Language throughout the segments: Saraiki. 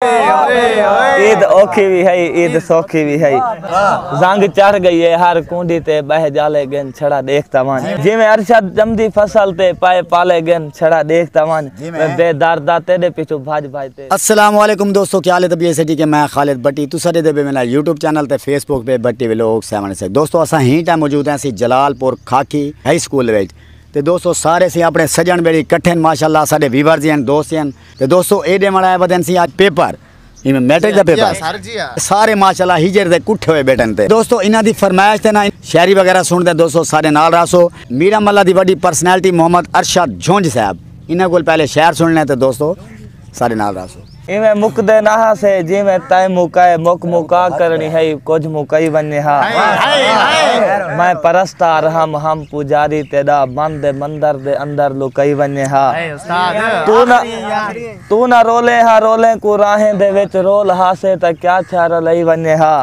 عید اوکھی بھی ہے عید سوکھی بھی ہے زنگ چڑھ گئی ہے ہر کونڈی تے بہ جالے گن چھڑا دیکھتا ون جی میں ارشد جمدی فصل تے پائے پالے گن چھڑا دیکھتا ون میں بے دردہ تیرے پیچھو بھاج بھاج تے السلام علیکم دوستو کیا لے دبیے سے جی کہ میں خالد بٹی تو سارے دے بے میرا یوٹیوب چینل تے فیس بک پہ بٹی ولوگ سیون سے دوستو اسا ہی ٹائم موجود ہیں سی جلال پور کھاکی ہائی سکول ویج تے دوستو سارے سی اپنے سجن بیڑی کٹھن ماشاءاللہ سارے ویورز ہیں دوست ہیں تے دوستو اے ڈیون آئے ودن سی آج پیپر ایویں میٹرک دا پیپر سارے ماشاءاللہ ہجر دے کٹھے ہوئے بیٹھن تے دوستو انہاں دی فرمائش تے نہ شاعری وغیرہ سن دے دوستو سارے نال راسو میرا ملہ دی وڈی پرسنالٹی محمد ارشد جھونج صاحب انہاں کول پہلے شعر سن لیں تے دوستو سارے نال راسو ایویں مک دے نہ سے جی میں تائیں مکائے مک مکا کرنی ہے کچھ مکائی ونجے ہاں میں پرستار ہم ہم پجاری تیرا بند مندر دے اندر لکائی ونجے ہاں توں نہ رولیں ہا رولیں کوں راہیں دے وچ رول ہاسے تاں کیا تھیا رلئی ونجے ہا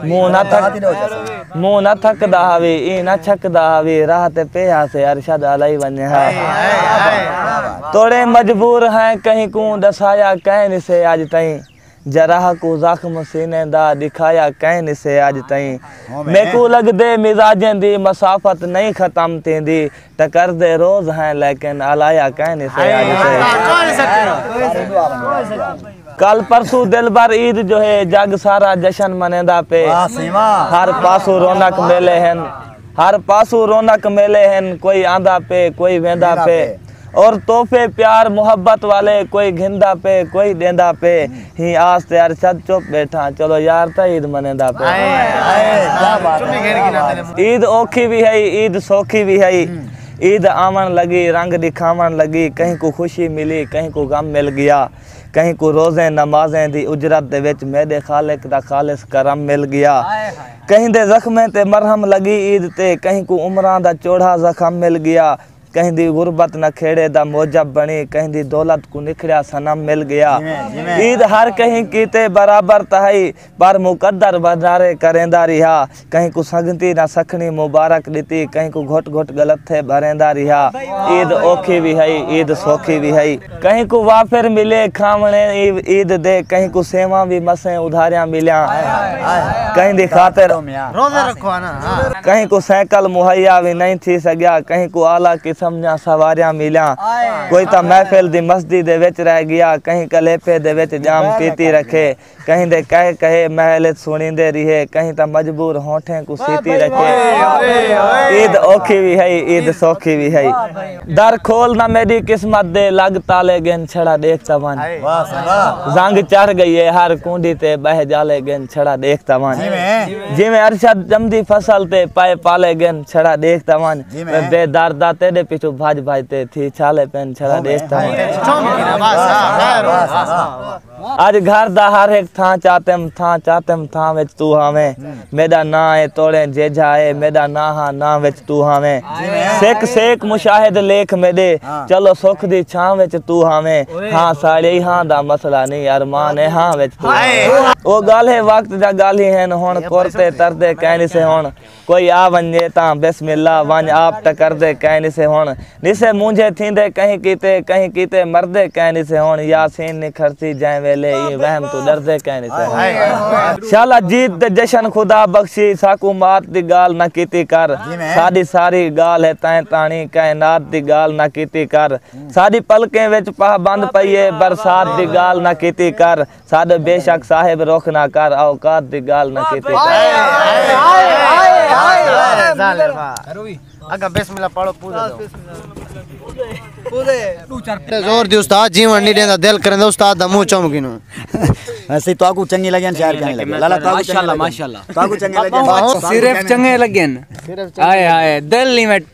منہ نہ تھک دا ہاوی ایں نہ چھک دا ہاوی راہ تے پے ہاسے ارشد الئی ونجے ہا توڑیں مجبور ہیں کہیں کوں ڈسایا کہیں نسے آج تائیں جرح کوں زخم سینے دا ݙکھایا کئیں نسے اڄ تئیں میکوں لڳدے مزاجیں دی مسافت نئیں ختم تھیندی ٹکردے روز ہیں لیکن الایا کئیں نسے اڄ تئیں کل پرسو دلبر عید جو ہے جگ سارا جشن منیندا پے ہر پاسو رونق میلے ہن ہر پاسو رونق میلے ہن کوئی آندا پے کوئی ویندا پے اور تحفے پیار محبت والے کوئی گھندا پے کوئی ڈیندا پے ہی آس تے ارشد چپ بیٹھا چلو یار تا عید منیندا پے عید اوکھی وی ہئی عید سوکھی وی ہئی عید آون لگی رنگ ڈکھاون لگی کہیں کو خوشی ملی کہیں کو غم مل گیا کہیں کو روزیں نمازیں دی اجرت دے وچ میڈے خالق دا خالص کرم مل گیا کہیں دے زخمیں تے مرہم لگی عید تے کہیں کو عمراں دا چوڑھا زخم مل گیا کہیں دی غربت نہ کھیڑے دا موجب بنی کہیں دی دولت کو نکھڑیا سنم مل گیا عید ہر کہیں کیتے برابر تہائی پر مقدر بھنڈارے کریں دا رہا کہیں کو سنگتی نہ سکھنی مبارک دیتی کہیں کو گھٹ گھٹ گلت تھے بھریں دا رہا عید اوکھی بھی ہائی عید سوکھی بھی ہائی کہیں کوں وافر ملے کھاونے عید دے کہیں کوں سیواں وی مسیں ادھاریاں ملیاں کہیں دی خاطر روزے رکھو انا کہیں کوں سائیکل مہیا وی نہیں تھی سگیا کہیں کوں اعلی قسم دیاں سواریاں ملیاں کوئی تاں محفل دی مستی دے وچ رہ گیا کہیں کلیپے دے وچ جام پیتی رکھے کہیں دے کہے کہے محل اچ سنڑیندے ریہے کہیں تاں مجبور ہونٹھیں کوں سیتی رکھے عید اوکھی وی ہئی عید سوکھی وی ہئی در کھول نہ میڈی قسمت دے لگ تالے گن چھڑا ڈیکھ تاں ونج زنگ چڑھ گئی ہے ہر کونڈی تے بہہ جالے گن چھڑا ڈیکھ تاں ونج جیویں ارشد جمدی فصل تے پائے پالے گن چھڑا ڈیکھ تاں ونج میں بے دردہ تیڈے پیچھو بھج بھج تے تھی چھالے پن چھڑا ڈیکھ تاں ونج اج گھر دا ہر ہک تھاں چاتم تھاں چاتم تھاں وچ تو ہاویں میڈا ناں اے توڑیں جیجھا اے میڈا ناں ہاں ناں وچ تو ہاویں سک سیک مشاہد لیکھ میڈے چلو سکھ دی چھاں وچ تو ہاویں ہاں ساڑی ہاں دا مسئلہ نی ارمان اے ہاں وچ تو ہاویں او گالھے وقت دا گالھی ہن ہن کر تے تر دے کینی سے ہن کوئی آ ونجے تاں بسم اللہ ونج آپ ٹکر دے کئے نسے ہن نسے مونجھے تھیندے کہیں کیتے کہیں کیتے مردے کئے نسے ہن یاسین نکھڑسی جئیں ویلے ایں وہم توں ڈردے کئے نسے ہن شالا جیت دے جشن خدا بخشی ساکوں مات دی گال نہ کیتی کر ساڈی ساری گال ہے تئیں تاݨی کئے نات دی گال نہ کیتی کر ساڈی پلکیں وچ پاہ بند پئی ہے برسات دی گال نہ کیتی کر ساڈے بے شک صاحب رخ نہ کر اوقات دی گال نہ کیتی زور دی استاد جیون نہیں دیندا دل کرندا استاد دا منہ چوم گینوں اسی تو کو چنگی لگن شعر کہیں لگے لالا تو ماشاءاللہ ماشاءاللہ تو کو چنگی لگن صرف چنگے لگن ہائے ہائے دل نہیں